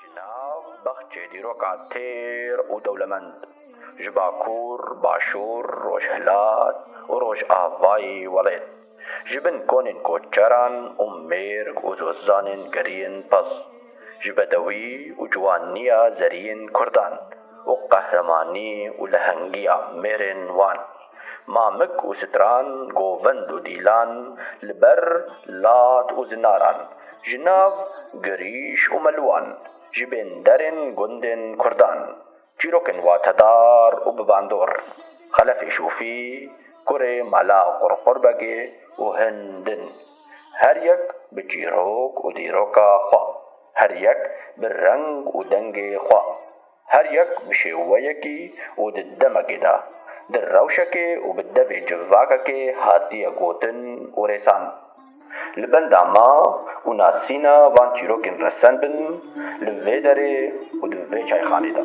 Ji nav bexçê dîroka têr û dewlemend ji Bakur, Başûr, Rojhilat û Rojavayê welêt, ji bin konên koçeran û mêrg û zozanên geriyên pez, ji bedewî û ciwaniya zeriyên kurdan û qehremanî û lehengiya mêrên wan. Mamik û stran, govend û dîlan, li ber, lat û zinaran, ji nav, girîş û meluwan, ji bên derên gundên kurdan, çîrokên watedar û bi bandor, xelefê şûfî, kurê mala qurqurbegê û hin din, her yek bi çîrok û dîroka xwe, her yek bi reng û dengê xwe. Her yek bi şêweyekî û di demekê de, di rewşekê û bi devê civakekê hatiye gotin û rêsan. Li benda ma û nasîna van çîrokên resen bin li vê derê û di vê çayxanê de.